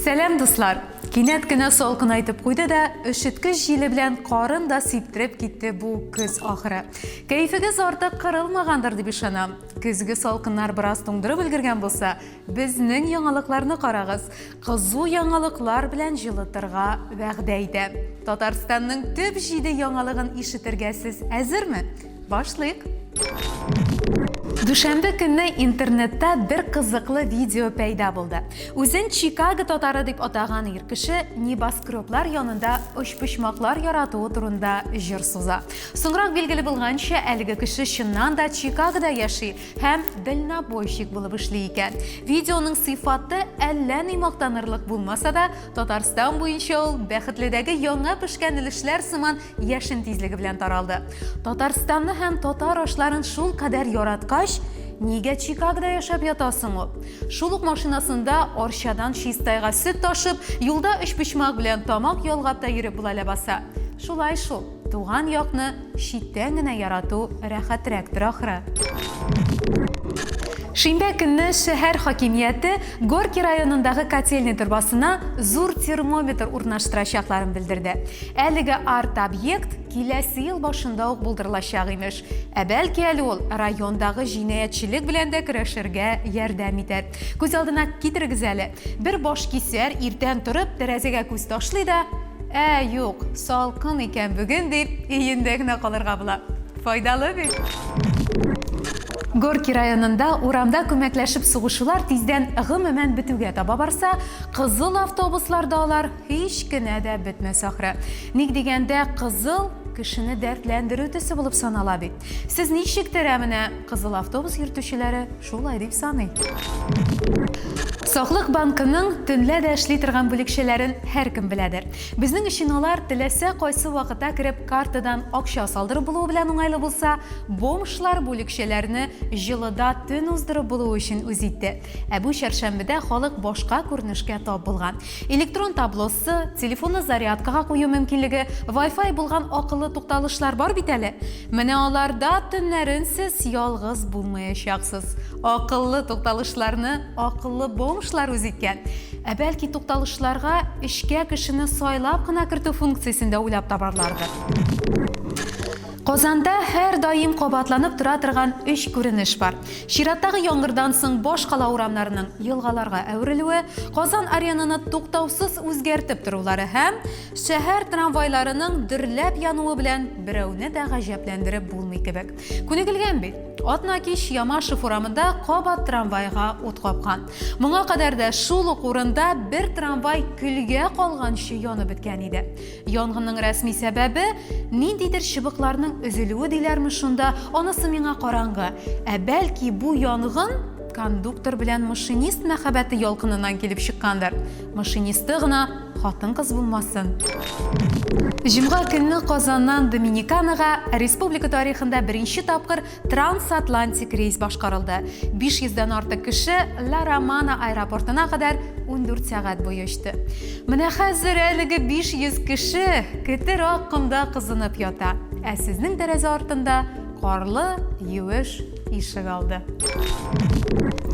Сәлам дуслар! Кинәт кенә салкын айтып куйды да, өшеткеч җиле белән карын да сиптереп китте бу көз ахыры. Кәефегез артык кырылмагандыр дип ышанам. Көзге салкыннар бераз туңдырып өлгергән булса, безнең яңалыкларны карагыз. Кызу яңалыклар белән җылытырга вәгъдә итә. Татарстанның төп җиде яңалыгын ишетергә сез әзерме? Башлыйк! Дүшәмбе көнне интернетта бер кызыклы видео пәйда булды. Үзен Чикаго татары дип атаган ир кеше небоскреблар янында очпочмаклар яратуы турында җыр суза. Соңрак билгеле булганча, әлеге кеше чыннан да Чикагода яши һәм дальнобойщик булып эшли икән. Видеоның сыйфаты әллә ни мактанырлык булмаса да, Татарстан буенча ул бәхетледәге яңа пешкән өлешләр сыман яшен тизлеге белән таралды. Татарстанны һәм татар ашларын шул кадәр яраткач, нигә Чикагода яшәп ятасың ул? Шул ук машинасында Арчадан Чистайга сөт ташып, юлда өч почмак белән тамак ялгап та йөреп була ләбаса. Шулай шул, туган якны читтән генә ярату рәхәтрәктер ахры. Шимбә көнне шәһәр хакимияте Горки районындагы котельный торбасына зур термометр урнаштырачакларын белдерде. Әлеге арт-объект киләсе ел башында ук булдырылачак, имеш. Ә бәлки әле ул райондагы җинаятьчелек белән дә көрәшергә ярдәм итәр. Күз алдына китерегез әле, бер башкисәр иртән торып тәрәзәгә күз ташлый да, Ә, юк, салкын икән бүген, дип, өендә генә калырга була. Файдалы бит! Горки районында урамда күмәкләшеп сугышулар тиздән гомумән бетүгә таба барса, кызыл автобусларда алар Һич кенә дә бетмәс ахры. Ник дигәндә, кызыл кешене дәртләндерү төсе булып санала бит. Сез ничектер ә менә кызыл автобус йөртүчеләре шулай дип саный. Саклык банкының төнлә дә эшли торган бүлекчәләрен һәркем беләдер. Безнең өчен алар теләсә кайсы вакыта кереп картадан акча салдырып булуы белән уңайлы булса, бомжлар бүлекчәләрне җылыда төн уздырып булуы өчен үз итте. Ә бу чәршәмбедә халык башка күренешкә тап булган. Электрон таблосы, телефонны зарядкага кую мөмкинлеге, вай-фай булган акыллы тукталышлар бар бит әле. Менә аларда төннәрен сез ялгыз булмаячаксыз. Акыллы тукталышларны акыллы бомжлар үз иткән. Ә бәлки тукталышларга эчкә кешене сайлап кына кертү функциясен дә уйлап табарлардыр. Казанда һәрдаим кабатланып тора торган өч күренеш бар. Чираттагы яңгырдан соң башкала урамнарының елгаларга әверелүе, Казан Аренаны туктаусыз үзгәртеп торулары һәм шәһәр трамвайларының дөрләп януы белән берәүне дә гаҗәпләндереп булмый кебек. Күнегелгән бит. Атна кич Ямашев урамында кабат трамвайга ут капкан. Моңа кадәр дә шул ук урында бер трамвай көлгә калганчы янып беткән иде. Янгынның рәсми сәбәбе ниндидер чыбыкларның өзелүе диләрме шунда, анысы миңа караңгы. Ә бәлки бу янгын кондуктор белән машинист мәхәббәте ялкынынан килеп чыккандыр. Машинисты гына хатын-кыз булмасын. Җомга көнне Казаннан Доминиканага республика тарихында беренче тапкыр Трансатлантик рейс башкарылды. 500 дән артык кеше Ла Романа аэропортына кадәр 14 сәгать буе очты. Менә хәзер әлеге 500 кеше кетер ак комда кызынып ята. Ә сезнең тәрәзә артында карлы, юеш ишек алды.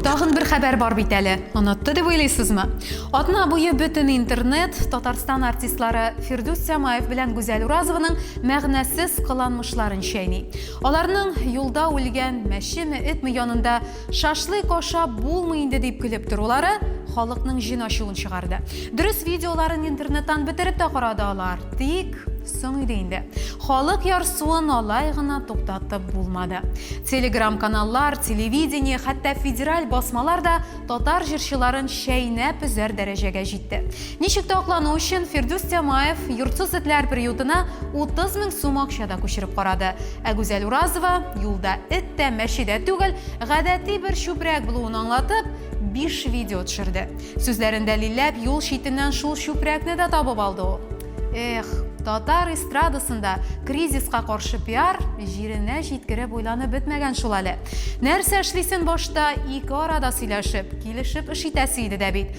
Тагын бер хәбәр бар бит әле. Онытты дип уйлыйсызмы? Атна буе бөтен интернет Татарстан артистлары Фирдүс Сямаев белән Гүзәл Уразованың мәгънәсез кыланмышларын чәйни. Аларның юлда үлгән мәчеме, этме янында шашлык ашап булмый инде дип көлеп торулары халыкның җен ачуын чыгарды. Дөрес видеоларын интернеттан бетереп тә карады алар, тик соң иде инде. Халык ярсуын алай гына туктатып булмады. Телеграм-каналлар, телевидение, хәтта федераль басмалар да татар җырчыларын чәйнәп өзәр дәрәҗәгә җитте. Ничек тә аклану өчен, Фирдүс Тямаев йортсыз этләр приютына 30 мең сум акча да күчереп карады. Ә Гүзәл Уразова, юлда эт тә, мәче дә түгел, гадәти бер чүпрәк булуын аңлатып, биш видео төшерде. Сүзләрен дәлилләп, юл читеннән шул чүпрәкне дә табып алды ул. Эх, татар эстрадасында кризиска каршы пиар җиренә җиткереп уйланып бетмәгән шул әле. Нәрсә эшлисен башта, ике арада сөйләшеп, килешеп эш итәсе иде дә бит.